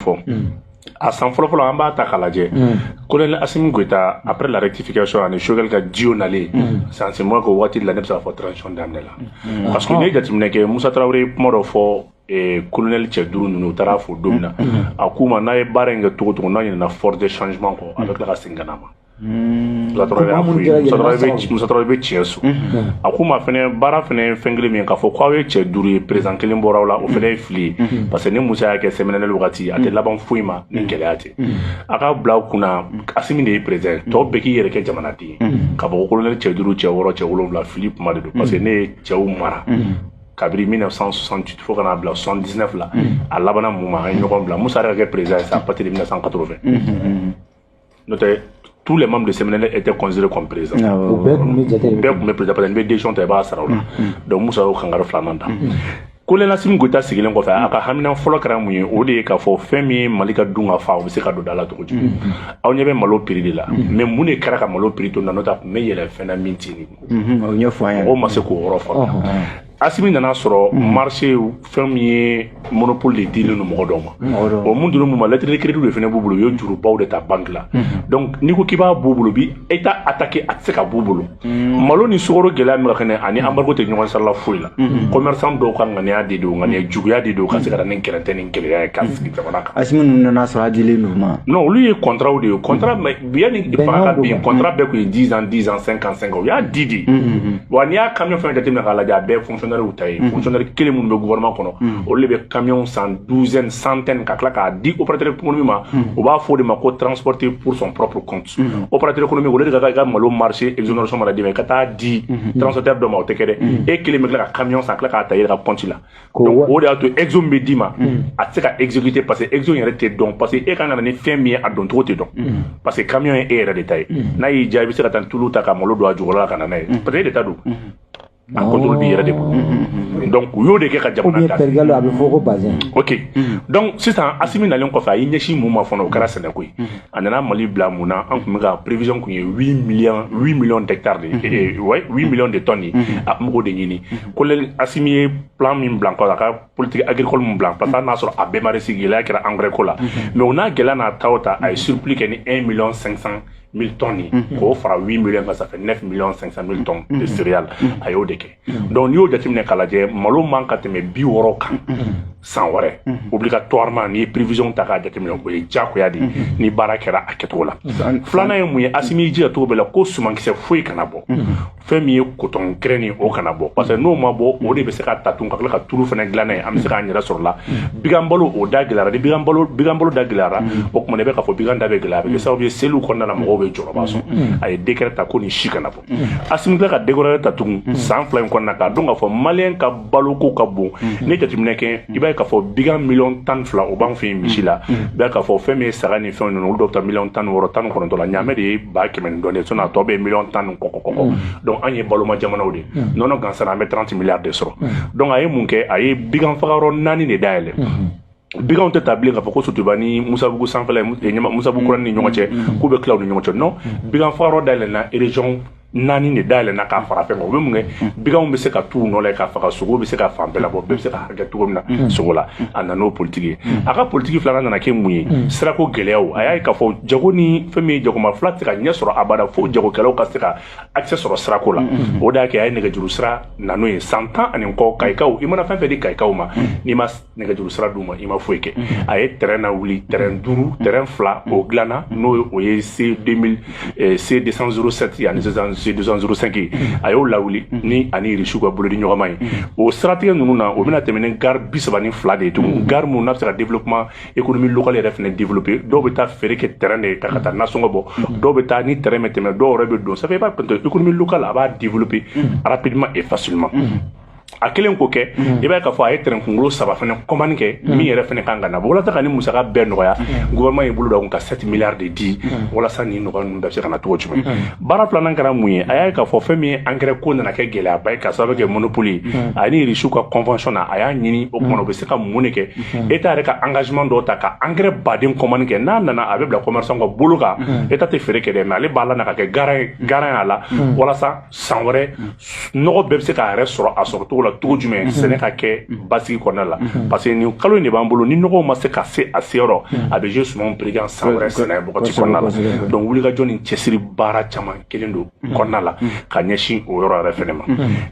fɔ a san fɔlɔfɔlɔ an b'a ta k'a lajɛ kolonɛli asimi goyita après la rectification ani sogɛli ka duo nalen c'est en ce moment que waati la ne bɛ se k'a fɔ transition daminɛ la parce que ne ye jateminɛ kɛ musa tarawele ye kuma dɔ fɔ kolonɛli cɛ duuru ninnu u taara fo don min na a k'u ma n'a ye baara in kɛ cogo o cogo n'a ɲinɛna force de changement kɔ a bɛ tila ka segin ka na a ma musa tarawele bɛ tiɲɛso a k'u ma fana baara fana ye fɛn kelen min k'a fɔ k'aw ye cɛ duuru ye président kelen bɔra aw la o fana ye fili ye parce que ne musa y'a kɛ cmln wagati a tɛ laban foyi ma ni gɛlɛya tɛ a ka bila kunna asimi de ye président tɔw bɛɛ k'i yɛrɛ kɛ jamanaden ye ka bɔ kolonɛli cɛ duuru cɛ wɔɔrɔ cɛ wolonwula fili kuma de don parce que ne ye cɛw mara kabiri 1968 fo ka n'a bila 79 la a labanna mun ma an ye ɲɔgɔn bila musa yɛrɛ ka kɛ président ye c'est à partir de 1980 n'o tɛ tous les membres de cmln étaient considérés comme présidents u bɛɛ tun bɛ jate bɛɛ tun bɛ président parce que n'i bɛ décision ta i b'a sara u la donc musa y'o kangari filanan ta kolonɛli asimi goyita sigilen kɔfɛ a ka hamina fɔlɔ kɛra mun ye o de ye k'a fɔ fɛn min ye mali ka dun ka fa o bɛ se ka don da la cogo di aw ɲɛ bɛ malo prix de la mais mun de kɛra ka malo prix to na n'o tɛ a tun bɛ yɛlɛ fɛn na min tɛ nin o ɲɛfɔ an ye mɔgɔw ma se k'o yɔrɔ faamuya asimi nana sɔrɔ mm. marché fɛn min ye monopole de dilen don mɔgɔ dɔw ma mm, o mun dilen don u ma lettre de crédit de fana b'u bolo u ye jurubaw de ta banque la mm-hmm. donc n'i ko k'i b'a b'u bolo u bɛ état attaqué a tɛ se ka b'u bolo mm. malo ni sukaro gɛlɛya min ka kɛnɛ a ni embargo tɛ ɲɔgɔn sira la foyi la mm-hmm. commerçant dɔw ka ŋaniya de don ŋaniya juguya de don ka se ka na ni gɛrɛntɛ ni gɛlɛya ye k'a sigi jamana kan asimi ninnu nana sɔrɔ a dilen don u ma non olu ye contrat de ye contrat yanni fanga ka bin contrat bɛɛ tun ye dix ans dix ans cinq ans cinq ans u y'a di de wa n'i y'a kamiyɔn fɛn jateminɛ k'a lajɛ a bɛɛ fonctionnaires ta ye fonctionnaire kelen minnu bɛ gouvernement kɔnɔ olu de bɛ kamiyɔn san douzaine centaine ka tila k'a di opérateur économique ma u b'a fɔ o de ma ko transport pour son propre compte opérateur économique olu de ka kan i ka malo marché exonération mana d'i ma i ka taa a di transporteur dɔ ma o tɛ kɛ dɛ e kelen bɛ tila ka kamiyɔn san ka tila k'a ta i yɛrɛ ka compte la o de y'a to exo min bɛ d'i ma a tɛ se ka exécuter parce que exo yɛrɛ tɛ dɔn parce que e ka kan ka na ni fɛn min ye a dɔncogo tɛ dɔn parce que kamiyɔn ye e yɛrɛ de ta ye n'a y'i diya i bɛ se ka taa tulu ta ka malo don a jɔyɔrɔ la ka na n'a ye parce que e de ta don a contrôle b'i yɛrɛ de bolo donc u y'o de kɛ ka jamana ta a bɛ fɔ ko bazin ok donc sisan asimi nalen kɔfɛ a y'i ɲɛsin mun ma fana o kɛra sɛnɛko ye a nana mali bila mun na an tun bɛ ka prévision tun ye 8 millions 8 millions d'hectares de ye 8 millions de tonnes ye a tun b'o de ɲini kolonɛli asimi ye plan min bila kɔ a ka politique agricole min bila parce que hali n'a sɔrɔ a bɛɛ ma réussi gɛlɛya kɛra engrais ko la mhm. mais o n'a gɛlɛya n'a ta o ta a ye surplus kɛ ni 1 million 500 mille tonnes ye mhm. k'o fara 8 million kan ça fait 9 million 500 mille tonnes de mhm. céréales a y'o de kɛ donc n'i y'o jateminɛ k'a lajɛ malo man kan ka tɛmɛ bi wɔɔrɔ kan san wɛrɛ obligatoirement n'i ye prévision ta k'a jateminɛ o ye diyagoya de ye ni baara kɛra a kɛcogo la filanan ye mun ye asimi y'i jija cogo bɛɛ la ko sumankisɛ foyi kana bɔ fɛn min ye coton graine nin o kana bɔ parce que n'o ma bɔ o de bɛ se ka ta tun ka tila ka tulu fana dilan n'a ye an bɛ se k'an yɛrɛ sɔrɔ la bigan balo o da gɛlɛyara ni bigan balo bigan balo da gɛlɛyara o tuma i bɛ k'a fɔ bigan da bɛ gɛlɛya a bɛ kɛ sababu ye seliw kɔnɔna na mɔgɔw bɛ jɔrɔba sɔn a ye décret ta ko nin si kana bɔ Assimi bɛ ka décret wɛrɛ ta tugun san fila in kɔnɔna k'a dɔn k'a fɔ maliyɛn ka baloko ka bon mhm. n'i ye jateminɛ kɛ i b'a ye k'a fɔ bigan miliyɔn tan fila o b'an fɛ yen misi la mhm. i b'a ye k'a fɔ fɛn min ye saga ni fɛn ninnu olu dɔw bɛ taa miliyɔn tan wɔɔrɔ tan kɔnɔntɔn la ɲaamɛ de ye ba kɛmɛ ni dɔɔnin sinon a tɔ bɛɛ ye miliyɔn tan ni kɔkɔ kɔkɔ mhm. donc an ye baloma jamanaw de nɔnɔ gansan an bɛ 30 miliyari de sɔrɔ donc a ye mun kɛ a ye bigan fagayɔrɔ naani de dayɛlɛ biganw tɛ taa bilen k'a fɔ ko Sotuba ni musabugu sanfɛla ye musabugu kura ni ɲɔgɔn cɛ k'u bɛ tila u ni ɲɔgɔn cɛ non bigan fagayɔrɔ dayɛlɛnna région naani de dayɛlɛnna k'a fara fɛn kan o bɛ mun kɛ biganw bɛ se ka t'u nɔ la k'a faga sogo bɛ se ka fan bɛɛ labɔ bɛɛ bɛ se ka hakɛ cogo min na sogo la a nana n'o politiki ye a ka politiki filanan nana kɛ mun ye sirako gɛlɛyaw a y'a ye k'a fɔ jago ni fɛn min ye jagoma fila tɛ se ka ɲɛ sɔrɔ abada fo jagokɛlaw ka se ka accès sɔrɔ sirako la o de y'a kɛ a ye nɛgɛjuru sira nano ye san tan ani kɔ kayikaw i mana fɛn o fɛn di kayikaw ma n'i ma nɛgɛjuru sira d'u ma i ma foyi kɛ a ye train lawuli train duuru train fila o dilanna n'o ye o ye c 2000 eh, c 207 ani sisan c 205 ye a y'o lawuli ni a ni Irisiw ka bolodiɲɔgɔnma ye o siratigɛ ninnu na o bɛna tɛmɛ ni gare bi saba ni fila de ye tugun gare minnu n'a bɛ se ka développement économie locale yɛrɛ fana développer dɔw bɛ taa feere kɛ train de ta ka taa nasɔngɔ bɔ dɔw bɛ taa ni train bɛ tɛmɛ dɔw yɛrɛ bɛ don ça fait i b'a économie locale a b'a développer rapidement et facilement a kɛlen kɔ fɛ mm. i b'a ye k'a fɔ a ye tɛrɛn kunkolo saba fana commande kɛ mm. min yɛrɛ fana kan ka na walasa ka nin musaka bɛɛ nɔgɔya mm. gouvernement ye bolo da kun ka 7 milliards de di walasa nin nɔgɔya ninnu bɛɛ bɛ se ka na cogo jumɛn baara filanan kɛra mun ye a y'a ye k'a fɔ fɛn min ye angɛrɛ ko nana kɛ gɛlɛyaba ye ka sababu kɛ monopole ye a ni Irisiw ka convention na a y'a ɲini o kuma na o bɛ se ka mun de kɛ État yɛrɛ ka engagement dɔw ta ka angɛrɛ baden commande kɛ n'a nana a bɛ bila commerçant ka bolo kan État tɛ feere kɛ dɛ mais ale b'a lana ka kɛ garant ye garant y'a la walasa san wɛrɛ nɔgɔ bɛɛ bɛ se k'a yɛrɛ sɔrɔ a sɔrɔ cogo la cogo jumɛn mhm. sɛnɛ ka kɛ mhm. basigi kɔnɔna la mhm. parce que nin kalo in de b'an bolo ni nɔgɔw ma se ka se a seyɔrɔ a bɛ jouer sumanw prix kan san wɛrɛ sɛnɛ bɔgɔti kɔnɔna la donc wulikajɔ ni cɛsiri baara caman kɛlen don kɔnɔna la ka ɲɛsin o yɔrɔ yɛrɛ fɛnɛ ma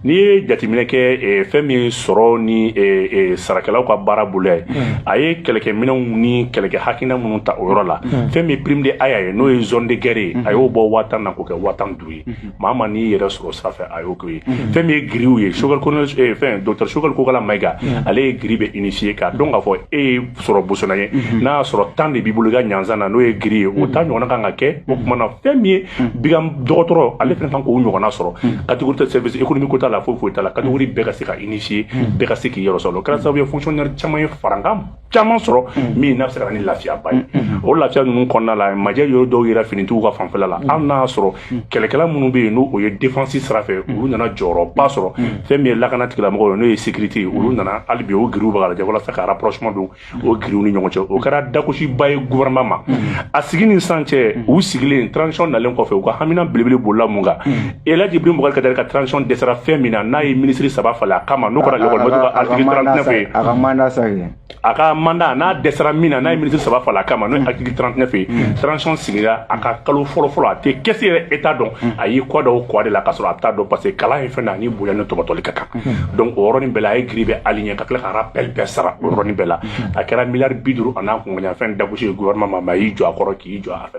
n'i ye jateminɛ kɛ eh, fɛn min ye sɔrɔ ni eh, eh, sarakɛlaw ka baara boloya ye a ye kɛlɛkɛminɛnw ni kɛlɛkɛ hakilina minnu ta o yɔrɔ la fɛn min ye prime de aya ye n'o ye zone de guerre ye a y'o bɔ waa tan na k'o kɛ waa tan duuru ye maa ma n'i yɛrɛ sɔrɔ sira fɛ a y'o k'o ye fɛn min ye grillew ye Choguel ko fɛn docteur Choguel Kokalla Maïga ale ye grille bɛɛ unifier k'a dɔn k'a fɔ e ye sogo bosola ye n'a y'a sɔrɔ tan de b'i bolo i ka ɲanzsan na n'o ye grille ye o ta ɲɔgɔnna kan ka kɛ o tuma na fɛn min ye bigan dɔgɔtɔrɔ ale fana kan k'o ɲɔgɔnna sɔrɔ catégorie tɛ sɛbɛn imi ko t'a la foyi foyi t'a la catégorie bɛɛ ka se ka unifier bɛɛ ka se k'i yɔrɔ sɔrɔ o kɛra sababu ye fonctionnaire caman ye farankan caman sɔrɔ mm. min n'a bɛ se ka na ni lafiyaba ye mm, mm, o lafiya ninnu kɔnɔna la majɛ yɔrɔ dɔw yɛrɛ finitigiw ka fanfɛla la hali n'a y'a sɔrɔ kɛlɛkɛla minnu bɛ yen n'o o ye defansi sira fɛ olu nana jɔyɔrɔba sɔrɔ fɛn min ye lakana tigilamɔgɔw ye n'o ye sekirite ye olu nana hali bi o giriw bɛ ka lajɛ walasa ka rapprochement don o giriw ni ɲɔgɔn cɛ o kɛra dakosiba ye gouvernement ma a sigi ni sisan cɛ u sigilen transition nalen kɔfɛ u ka hamina belebele bolila mun kan Elaji Ibrahim Bubakari Keyita ka transition dɛsɛra fɛn min na n'a ye ministre saba falen a kama n'o kɛra école maître ka article 39 ye, a ka mandat sa ye, a ka mandat n'a dɛsɛra min na n'a ye ministre saba falen a kama n'o ye article 39 ye transition sigira a ka kalo fɔlɔ fɔlɔ a tɛ caisse yɛrɛ état dɔn a y'i kɔ da o kɔ de la k'a sɔrɔ a t'a dɔn parce que kalan ye fɛn dɔ ye a ni bonya ni tɔbɔtɔli ka kan donc o yɔrɔnin bɛɛ la a ye grille bɛɛ aligner ka tila ka rappel bɛɛ sara o yɔrɔnin bɛɛ la a kɛra milliard bi duuru an'a kunkanfɛn dagosi ye gouvernement ma mais a y'i jɔ a kɔrɔ k'i jɔ a fɛ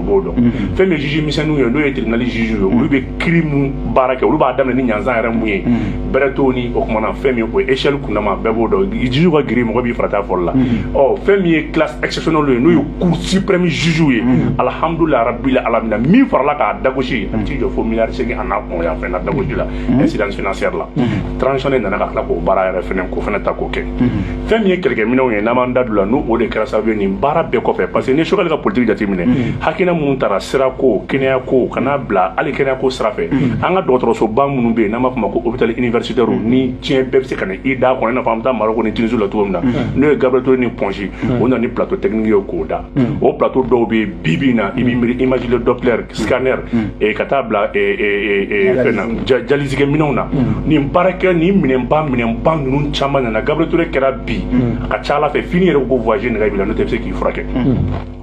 b'o dɔn mm-hmm. fɛn min ye juge misɛnninw ye n'o ye tribunal juge ye olu bɛ kiri mun baara kɛ olu b'a daminɛ ni ɲanzan yɛrɛ mun ye mm-hmm. bɛrɛ t'o ni o kumana fɛn min o ye échelle kundama bɛɛ b'o dɔn juge ka giri mɔgɔ b'i farat'a fɔli la mm-hmm. ɔ fɛn min ye classe exceptionnelle ye n'o ye cour suprême juge ye alhamdulilayi rabbil alamina min farala k'a dagosi a t'i jɔ fo miliyari segin a n'a kunkanfɛn na dagosi la incidence financière la transition de nana ka tila k'o baara yɛrɛ fɛnɛ k'o fɛnɛ ta k'o kɛ fɛn min ye kɛlɛkɛminɛnw ye n'an b'an da don la n'o o de kɛra sababu ye nin baara bɛɛ kɔfɛ parce que ni Choguel ka politiki jateminɛ hakilina minnu tara sirako kɛnɛyako ka n'a bila hali kɛnɛyako sira fɛ an ka dɔgɔtɔrɔsoba minnu bɛ yen n'an b'a fɔ ma ko hôpital universitaire ni diɲɛ bɛɛ bɛ se ka na i da kɔnɔ i n'a fɔ an bɛ taa Marɔku ni Tunisie la cogo min na n'o ye Gabriel Toure ni Point G o nana ni plateau technique ye k'o da o plateau dɔw bɛ yen bi bi in na i b'i miiri imagerie doppler scanner eh, ka taa bila eh, eh, eh, eh, fɛn na ja- dialyse kɛ minɛnw na nin baarakɛ nin minɛnba minɛnba ninnu caman nana gabriel ture kɛra bi a ka ca ala fɛ fo n'i yɛrɛ ko voyage nege b'i la n'o tɛ i bɛ se k'i furakɛ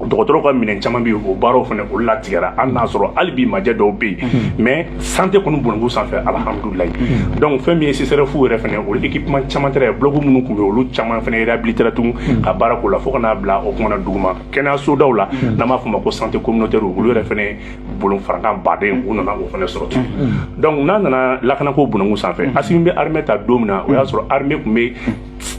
dɔgɔtɔrɔw ka minɛn caman bɛ yen o baaraw fana olu latigɛra hali n'a sɔrɔ hali bi majɛ dɔw bɛ yen mais santé kɔni bɔnɛko sanfɛ alihamudulilayi donc fɛn min ye CSRef yɛrɛ fana olu équipement caman taara yen bloc minnu tun bɛ yen olu caman fana réhabilitera tugun ka baara k'o la fo ka n'a bila o kumana duguma kɛnɛyasodaw la hmm. n'an b'a fɔ ma ko santé communautaire olu yɛrɛ fana bolo farankan baden u nana o fana sɔrɔ ten donc n'a nana lakanako bunangu sanfɛ asimi bɛ armée ta don min na o y'a sɔrɔ armée tun bɛ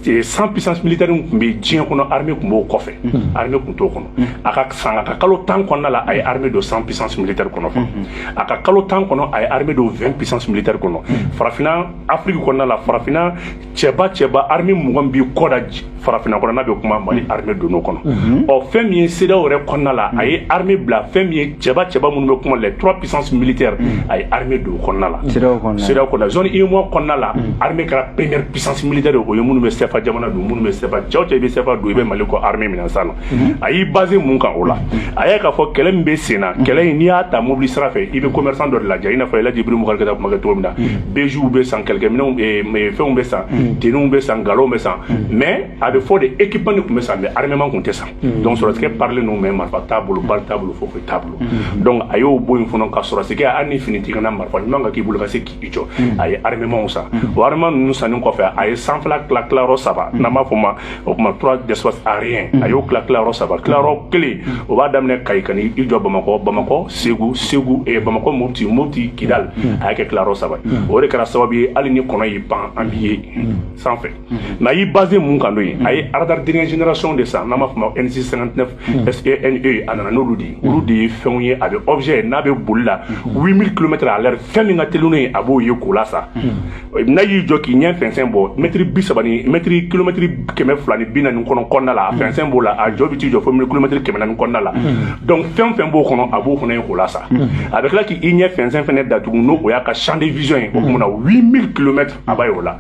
Eh, cent puissance militaire tun bɛ diɲɛ kɔnɔ armée tun b'o kɔfɛ mm-hmm. armée tun t'o kɔnɔ mm-hmm. a ka san a ka kalo tan kɔnɔna la a ye armée don cent puissance militaire kɔnɔ fɔlɔ mm-hmm. a ka kalo tan kɔnɔ a ye armée don 20 puissance militaire kɔnɔ farafinna afiriki kɔnɔna la farafinna cɛba cɛba armée mugan b'i kɔ da farafinna kɔnɔ n'a bɛ kuma mali mm. armée donn'o kɔnɔ mm-hmm. ɔ fɛn min ye CEDEAO yɛrɛ kɔnɔna la a ye mm. armée bila fɛn min ye cɛba cɛba minnu bɛ kuma les trois puissances militaires mm. a ye armée don o kɔnɔna la CEDEAO kɔnɔna zone UEMOA kɔnɔna la armée kɛra première puissance militaire o ye minnu bɛ CFA jamana don minnu bɛ CFA cɛw cɛ i bɛ CFA don i bɛ mali kɔ armée minɛn san na Mhm. a y'i basé mun kan o la a y'a ye k'a fɔ kɛlɛ min bɛ sen na mhm. kɛlɛ in n'i y'a ta mobili sira fɛ i bɛ commerçant dɔ de lajɛ i n'a fɔ elaji ibrahim bubakari keyita kuma kɛ cogo min na mhm. bejiw bɛ san kɛlɛkɛminɛnw eh, eh, fɛnw bɛ san tenuew bɛ san galonw bɛ san mais a bɛ fɔ de équipement de tun bɛ san mais armement tun tɛ san donc sɔrɔsikɛ parilen don mais marifa t'a bolo balle t'a bolo foyi t'a bolo donc a y'o bɔ yen fana ka sɔrɔsikɛ hali ni fini t'i kan na marifa ɲuman ka k'i bolo ka se i jɔ hmm. a ye armementw san hmm. o armement ninnu sanni kɔfɛ a ye sanfɛla tila tilayɔrɔ saba hmm. n'an b'a fɔ ma o tuma trois espaces aériens a y'o tila tilayɔrɔ saba tilayɔrɔ kelen o b'a daminɛ kayi ka n'i jɔ bamakɔ bamakɔ segu segu eh, bamakɔ mopti mopti kidal a y'a kɛ tilayɔrɔ saba o de kɛra sababu ye hali ni kɔnɔ y'i pan an b'i ye sanfɛ mais a y'i basé mun kan n'o ye a ye aradari dernière génération de san n'an b'a fɔ ma n six cinquante-neuf t e a nana n'olu de ye olu de ye fɛnw ye a bɛ objet ye n'a bɛ boli la huit mille kilomètres à l'heure fɛn min ka teli n'o ye a b'o ye k'o lasa n'a y'i jɔ k'i ɲɛ fɛnsɛn bɔ mɛtiri bi saba mɛtiri kilomɛtiri kɛmɛ fila ni bi naani kɔnɔna la a fɛnsɛn b'o la a jɔ bɛ t'i jɔ fo kilomɛtiri kɛmɛ naani kɔnɔna la donc fɛn fɛn b'o kɔnɔ a b'o fana ye k'o lasa a bɛ tila k'i ɲɛ fɛnsɛn fana tugun n'o o y'a ka champ de vision ye o tuma na huit mille kilomètres a b'o la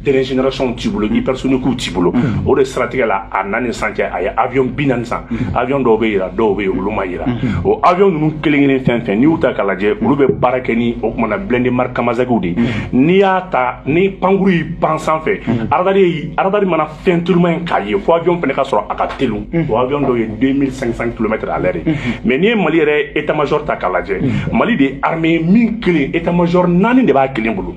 Dernière générationw t'i bolo ni hypersoniquew t'i bolo o de siratigɛ la a na ni sisan cɛ a ye avion bi naani san avion dɔw bɛ jira dɔw bɛ yen olu ma jira o avion ninnu kelen kelen fɛn fɛn n'i y'u ta k'a lajɛ olu bɛ baara kɛ ni o tuma na blindé marque kamazw de ye n'i y'a ta ni pankurun y'i pan sanfɛ aradari mana fɛn tuma min k'a ye fo avion fana ka sɔrɔ a ka teli o avion dɔw ye deux mille cinq cents kilomètres à l'heure de mais n'i ye mali yɛrɛ état major ta k'a lajɛ mali de ye armée kelen état major naani de b'a kelen bolo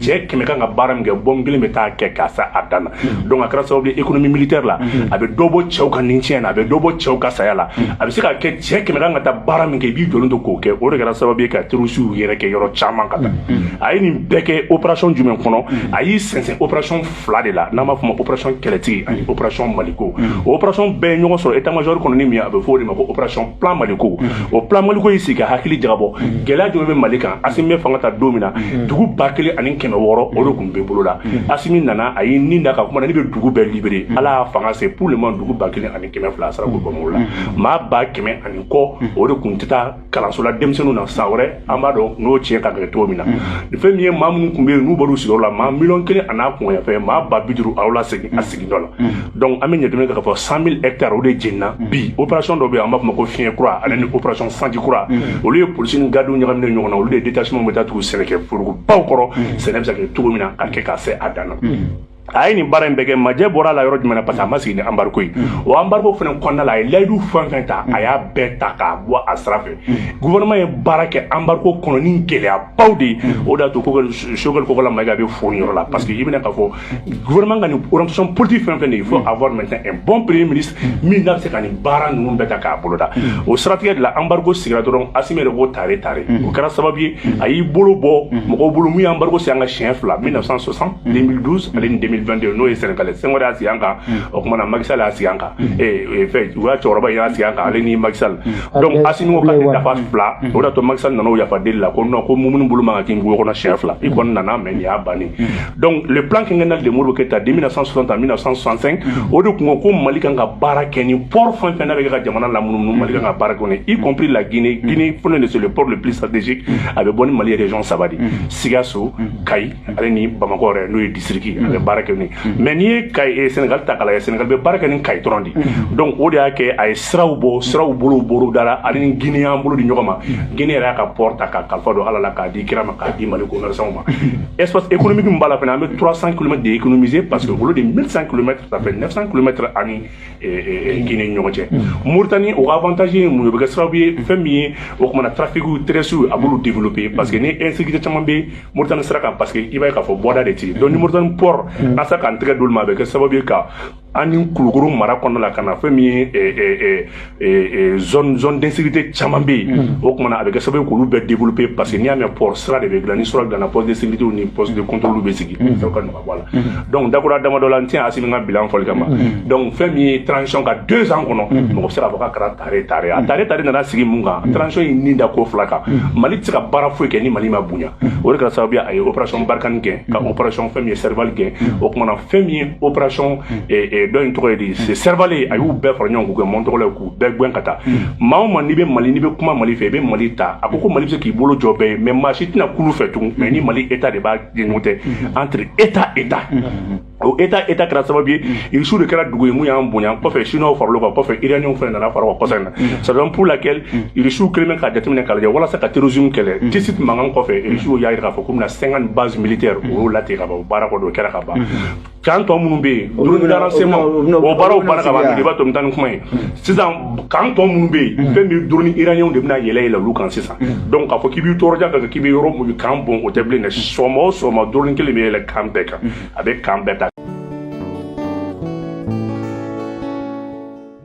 cɛ kɛmɛ kan ka baara min kɛ bombe kelen bɛ taa kɛ ka se a dan na mm-hmm. donc a kɛra sababu ye économie militaire la mm-hmm. a bɛ dɔ bɔ cɛw ka nincɛn na a bɛ dɔ bɔ cɛw ka saya la mm-hmm. a bɛ se ka kɛ cɛ kɛmɛ kan ka taa baara min kɛ i b'i jɔlen to k'o kɛ o de kɛra sababu ye ka terroristew yɛrɛ gɛn yɔrɔ caman ka taa a ye nin bɛɛ kɛ opération jumɛn kɔnɔ a y'i sinsin opération fila de la n'an b'a fɔ ma opération kɛlɛtigi ani opération maliko mm. o opération bɛɛ ye ɲɔgɔn sɔrɔ état major kɔnɔ ni min a bɛ fɔ o de ma ko opération plan maliko mm. o plan maliko y'i sigi ka hakili jagabɔ mm. gɛlɛya jumɛn bɛ mali kan asimi bɛ fanga ta don min na dugu ba kelen ani kɛmɛ wɔɔrɔ o de tun bɛ bolo la asimi nana a y'i ni da ka kuma na ne bɛ dugu bɛɛ libéré ala y'a fanga se pour le moment dugu ba kelen ani kɛmɛ fila a sera k'o bɔ mɔgɔw la maa ba kɛmɛ ani kɔ o de tun tɛ taa kalansola denmisɛnninw na san wɛrɛ an b'a dɔn n'o tiɲɛ ka gɛrɛ cogo min na mm-hmm. fɛn min ye maa minnu tun bɛ yen n'u bɔr'u sigiyɔrɔ la maa miliyɔn kelen a n'a kunkanfɛn maa ba bi duuru a y'o lasegin a mm-hmm. sigida la mm-hmm. donc an bɛ ɲɛdɔmɛ kɛ k'a fɔ cent mille hectares o de jenina bi opération dɔ bɛ yen an b'a fɔ ma ko fiɲɛ kura ale ni opération sanji kura olu ye polisi ni gardiw ɲagaminen ɲɔgɔn na olu de ye détachement bɛ taa tugu sɛnɛkɛ forobaw kɔrɔ sɛnɛ bɛ se ka kɛ cogo min na ka kɛ ka se a dan na a ye nin baara in bɛɛ kɛ majɛ bɔr'a la yɔrɔ jumɛn na parce que a ma sigi ni embargo ye o embargo fana kɔnɔna la a ye layidu fɛn fɛn ta a y'a bɛɛ ta k'a bɔ a sira fɛ gouvernement ye baara kɛ embargo kɔnɔ ni gɛlɛyabaw de ye o de y'a to sogɛli kokala mayiga bɛ fo nin yɔrɔ la parce que i bɛna k'a fɔ gouvernement ka nin orientation politique fɛn fɛn de ye il faut avoir maintenant un bon premier ministre min n'a bɛ se ka nin baara ninnu bɛɛ ta k'a boloda o siratigɛ de la embargo sigira dɔrɔn Asimi yɛrɛ b'o tare ta o kɛra sababu ye a y'i bolo bɔ mɔgɔ bolo min ye embargo sigi an kan siɲɛ fila 1960 2012 ani 2022 n'o ye Sénégal Senghor y'a sigi an kan o tuma na Macky Sall y'a sigi an kan fɛ u ka cɛkɔrɔba y'a sigi an kan ale ni Macky Sall donc Asimi ko k'ale dafa fila o de y'a to Macky Sall nana yafa deli la ko non ko minnu bolo man kan ka kin wo kɔnɔ siɲɛ fila i kɔni nana mais nin y'a ban donc le plan quinquennal de Modibo Keïta de 1960 à 1965 o de tun ko ko Mali kan ka baara kɛ ni port fɛn fɛn n'a bɛ kɛ ka jamana lamunumunu Mali kan ka baara kɛ y compris la Guinée Guinée fana de c'est le port le plus stratégique a bɛ bɔ ni Mali région saba de Sikaso Kayi ale ni Bamakɔ yɛrɛ n'o ye district a bɛ baara kɛ ni mais n'i ye Kayi eh, Sénégal ta k'a lajɛ Sénégal bɛ baara kɛ ni Kayi dɔrɔn de donc o de y'a kɛ a ye siraw bɔ siraw bolo dara ale ni Guinée y'an bolo di ɲɔgɔn ma Guinée yɛrɛ y'a ka port ta k'a kalifa don Ala la k'a di kira ma k'a di Mali commerçants ma espace économique min b'a la fana an bɛ 300 kilomètres de économiser parce que olu de 1100 kilomètres ça fait 900 kilomètres ani Guinée ni ɲɔgɔn cɛ Mauritanie o ka avantage ye mun ye o bɛ kɛ sababu ye fɛn min ye o tumana trafic terrestre a b'olu développer parce que ni insécurité caman bɛ Mauritanie sira kan parce que i b'a ye k'a fɔ bɔda de tɛ yen donc ni Mauritanie port an sera k'an tɛgɛ d'olu ma a bɛ kɛ sababu ye ka an ni Kulukoro mara kɔnɔna la ka na fɛn min ye eh, eh, eh, zone zone d'insécurité caman bɛ yen mm-hmm. o kumana a bɛ kɛ sababu ye k'olu bɛɛ développer parce que n'i y'a mɛn port sira de bɛ dilan ni sira dilanna poste de sécurité ni poste de contrôle bɛ sigi mm-hmm. fɛn ka nɔgɔ bɔ a la mm-hmm. donc dakura damadɔ la n tɛ Asimi ka bilan fɔli kama donc fɛn min ye transition ka deux ans kɔnɔ mɔgɔ bɛ se k'a fɔ k'a kɛra tare tare a tare tare nana sigi mun kan transition ye nin da ko fila kan Mali tɛ se ka baara foyi kɛ ni Mali ma bonya o de kɛra sababu ye a ye opération Barkhane kɛ ka opération fɛn min ye Serval kɛ o kumana fɛn min ye opération dɔ in tɔgɔ ye di c'est Serval ye a y'u bɛɛ fara ɲɔgɔn k'u kɛ mɔntɔgɔ la k'u bɛɛ gɛn ka taa maa o maa n'i bɛ Mali n'i bɛ kuma Mali fɛ i bɛ Mali ta a ko ko Mali bɛ se k'i bolo jɔ bɛɛ ye mais maa si tɛna kulu fɛ tugun mais ni Mali État de b'a ɲɔgɔn cɛ entre État État o État État kɛra sababu ye Irisiw de kɛra dugu ye min y'an bonya kɔfɛ Siniw far'olu kan kɔfɛ Iraniw fana nana fara kɔsa in na c'est donc pour laquelle Irisiw kelen bɛ ka jateminɛ k'a lajɛ walasa ka terrorisme kɛlɛ tisi tun mankan kɔfɛ Irisiw y'a jira k'a fɔ k'u bɛna 50 bases militaires o y'o latigɛ ka ban baara kɔni o kɛra ka ban camp tɔ minnu bɛ yen drone de renseignement o baaraw banna ka ban de b'a to n tan ni kuma ye sisan camp tɔ minnu bɛ yen fɛn min drone Iraniw de bɛna yɛlɛ yɛlɛ olu kan sisan donc k'a fɔ k'i b'i tɔɔrɔja kan k'i bɛ yɔrɔ mun kan bon o tɛ bilen dɛ sɔgɔma o sɔgɔma drone kelen bɛ yɛlɛ camp bɛɛ kan a bɛ camp bɛɛ ta